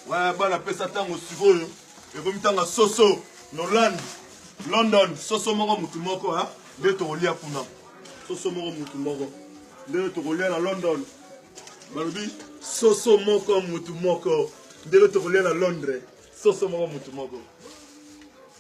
Ouais, bana pesa tango sikoyo ekomi tanga soso noland london soso moko motu moko hein? nde tokolia kuna soso moko motu moko ndenge tokolia na london balobi soso moko motu moko ndenge tokolia na londres soso moko motu moko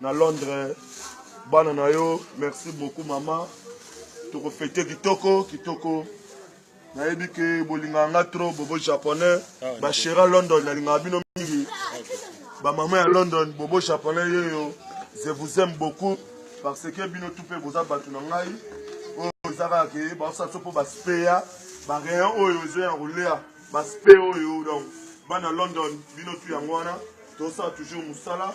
na londres bana na yo merci beaucoup mama tokofete kitoko kitoko nayebi ke bolingaka nga trop bobo japonais ah, bashera london nalingaka bino mingi bamama ya london bobo japonais yeyo je vous aime beaucoup parce que bino tout mpe boza bato na ngai oyo oh, eza kaka ke baosa so mpo baspeya barayon oyo oh, ezoya kolea baspe oyo oh, donc bana london bino tu yango wana tosala toujours mosala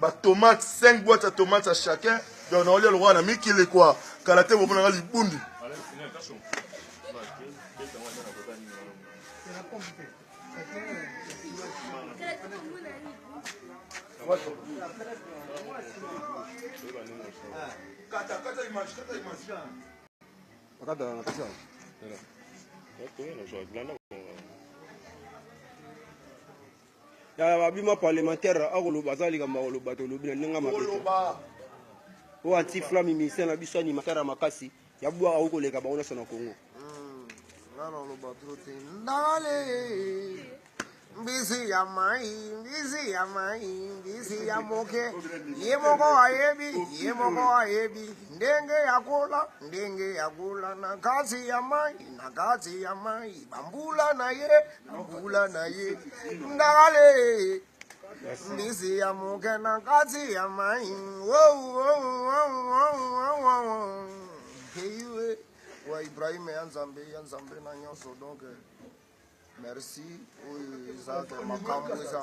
ba tomate 5 boîte ya tomate ya chacun donc naolia lokola na mikili kua kala te bomonaka libundi Kata, kata image, kata image. Kata, kata image. Ya babima parlementaire akoloba aza likambo akoloba tolobi na ndenge mabe oyo anti flamme ministère na biso animateur ya makasi ya bwaka oyo koleka bango nyonso na congo mbisi ya mai mbisi ya mai mbisi ya moke ye moko ayebi ye moko ayebi ndenge ya kola ndenge ya kola na kati ya mai na kati ya mai bambula na ye mbula na ye ndakale mbisi ya moke na kati ya mai heiwe wa ibrahima ya nzambe ya nzambe na nyonso donc merci oyo eza te makambo eza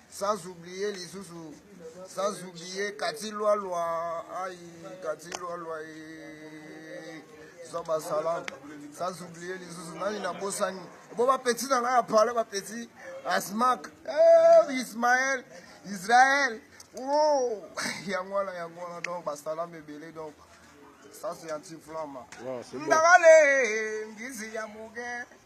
sans oublier lisusu sans oublier kati lwalwa ai kati lwalwa e zoba salam sans oublier lisusu nani nabosani bo bapeti na ngai ya pale bapeti asmak eh, ismael israel oh, yango wana yango wana donc basalama ebele donc sasi ya ntiflama ndakale ngizi ya moke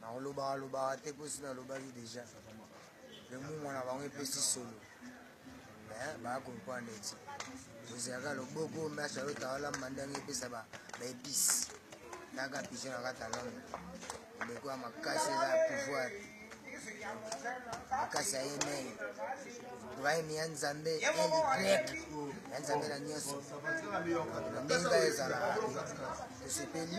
nakolobaka lobaka te mpo si nalobaki deja lomumwa na bango epesi solo eh, baya comprendre ete ozalaka loboko masha yo tawalamba ndenge epesa baepice naka pigeon na kata londre eleko ya makasi eza ya pouvoir makasi ya yemei ibrahim ya nzambe eligrek ya nzambe na nyonso ndenge ezalaka tosepeli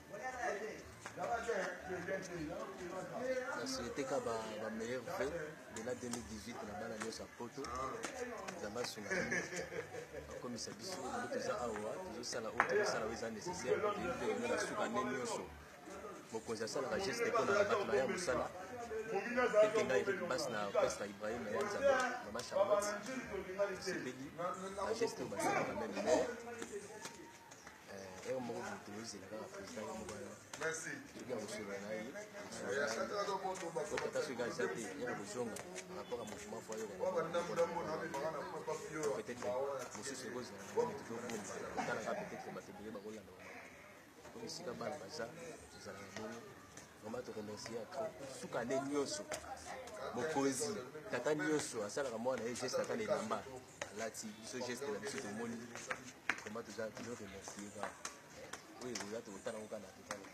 nasiliteka bameilleur ve dela 2018 na bana nyonso ya poto nzambe asunga bakomisa biso yango toza awa tozosala oyo tozosala oyo eza nécessaire toyebi na suka nde nyonso mokonzi asalaka geste mpo na bato na ye ya mosala ete ngai epe basi na pesta ibrahima ya nzambe mama charlotte sepeli na geste oyo basalaka meme mais esika bana baza ezala na boni vraiment toremercie ya trop suka nde nyonso mokonzi tata nyonso asalaka mwana ye geste ata na elamba alati biso geste na biso tomoni vraiment toza tozo remercie kaka oyo ekoza tokotala ngo kaka na totala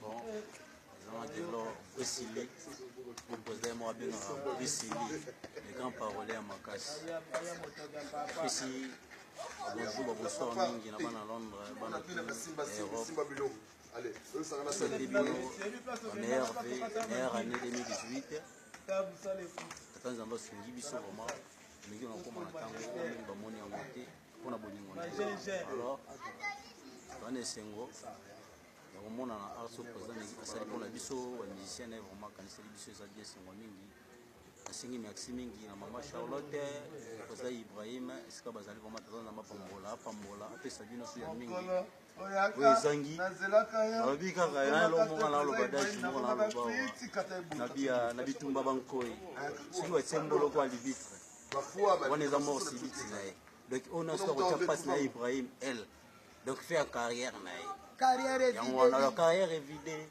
bon azalaki lor esili mopresident ye moko abengaka esili le grand parole ya makasi esi bonjour babosor mingi na bana londres bana europe Allez, eux, ça va la meilleure année 2018. tata nzambe asungi biso vraimen ndenge nakoma na ntango oyo mingi bamoni yango te mpo na bolingo na alors bana esengo ya komonana arso président negi asali mpo na biso bamusicien na ye vraimen akaniseli biso eza bien esengo mingi nasengi merci mingi na mama charlotte président ibrahim esika bazali vraimen tata nzambe apambola apambola apesa bino so ya mingi oyo ezangi alobi kaka nalomonga naloba dage moko naloba na bitumba bankoi eh, soki batie mboloko alibitre wana eza mort sibiti na ye donc oyo nyonso akotya mpasi na ye ibrahim l donc fe ya carrière na ye yango wana carrière evide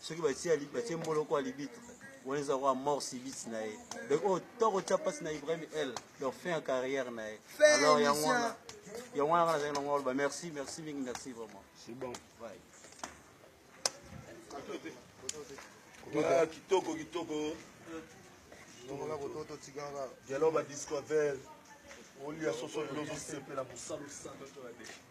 soki batie mboloko ya libitu wana eza kwa mort sibisi na ye donc oyo to kotya mpasi na ibrahim el donc fin ya carrière na ye alors yango wana yango wana nazali nango aloba merci merci mingi merci vraiment c'est bon ouais. Ah, kitoko kitoko dialogue ya discover olia soso lozo sepela mosalusa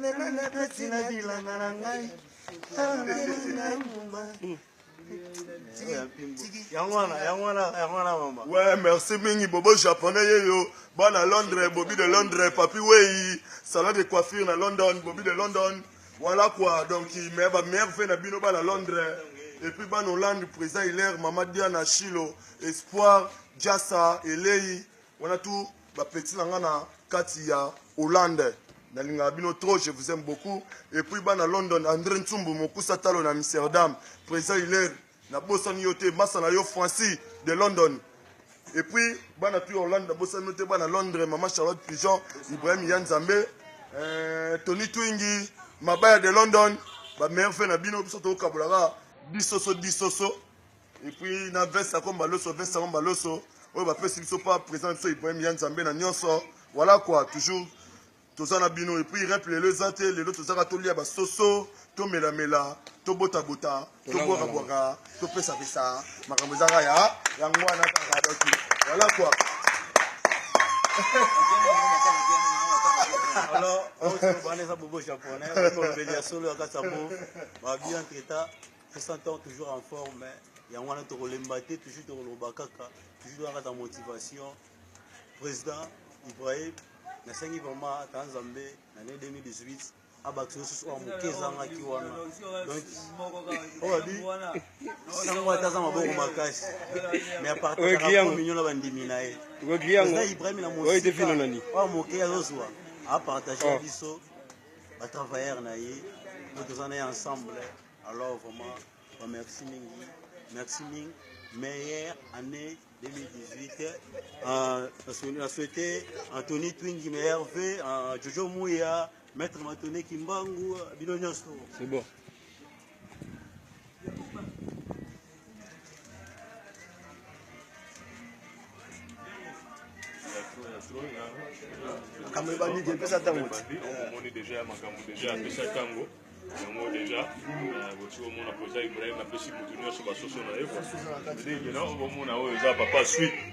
lelo nabeti na bilanga na ngai yango wana yango wana yango wana mama ouais merci mingi bobo japonais yeyo bana londres bobi de londres papi wei salon de coiffure na london bobi de london voilà quoi donc mais ba merve na bino bana londres et puis bana hollande président hilaire mama diana chilo espoir jasa elei wana tout Ba petit na nga na kati ya Hollande nalingaka bino trop je vous aime beaucoup et puis bana London Andre Nsumbu mokusa talo na Amsterdam président Hilaire na bosani yo te masa na yo Francis de London et puis bana tu Hollande na bosani yo te bana Londres maman Charlotte Pigeon Ibrahim ya Nzambe euh, Tony Twingi mabaya de London ba meilleur fait na bino biso tokabolaka bisoso bisoso et puis na veste ya komba loso veste ya komba loso oyo bapesi biso pa président biso ibrahim ya nzambe na nyonso voilà quoi toujours toza na bino et puis rep lelo eza te lelo tozaka tolia basoso tomelamela tobotabota tobwakabwaka topesapesa makambo ezaka ya yango wana kaka doki voilà quoi alors oyo eza bobo japonais oyo mbeli ya solo ya kasa bo babia nteta Vincent Thor toujours en forme mais yango wana tokolemba te toujours tokoloba kaka toujours toza kaka motivation président Ibrahim nasengi vraiment ata nzambe na ne 2018 abakisa lisusu oyo moke ezangaki wana donc oyo abi sango ata aza maboko makasi mais apartageakominyo na bandimi na ye na ibrahim na mosika oyo moke azozwa apartage biso batravailleur na ye oyo toza na ye ensemble Alors vraiment, bah, merci mingi, merci mingi. Meilleure année 2018. Euh, on a souhaité Anthony Twingi, meilleur V, euh, Jojo Mouya, Maître Matone Kimbangu, Bino C'est bon. makambo ebandi te epesa ntango omoni deja ya makambo deja apesa ntango yango deja botiki omona koza ibrahim apesi motu nyonso basoso na ye kua omona oyo eza papa sui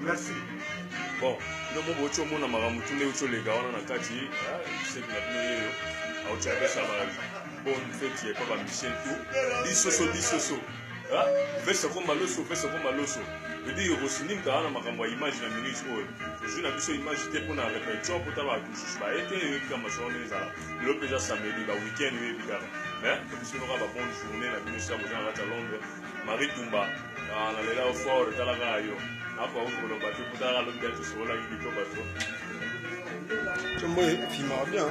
merci bon ndomo boci omona makambo tu nde oci oleka wana na kati ah, seki na bino yeyo aoci apesa bonne fete ya papa michel tu bisoso bisoso ah, vesa komba loso vesa komba loso edi yokosinimka wana makambo ya image na minute oyo ozwi na biso image te mpo na repetition mpo ta bato mosusu baye te eyebi kaka masolo ndenge ezala lelo mpenza samedi ba weekend oyebi kaka mais tobisinoka ba bonne journée na bino sila boza na kati ya londres marie tumba Ah, na lela fort tala kaka yo apa okoloba te kuta kaka lobi ati sokolaki bito bato tomboye fimaka bien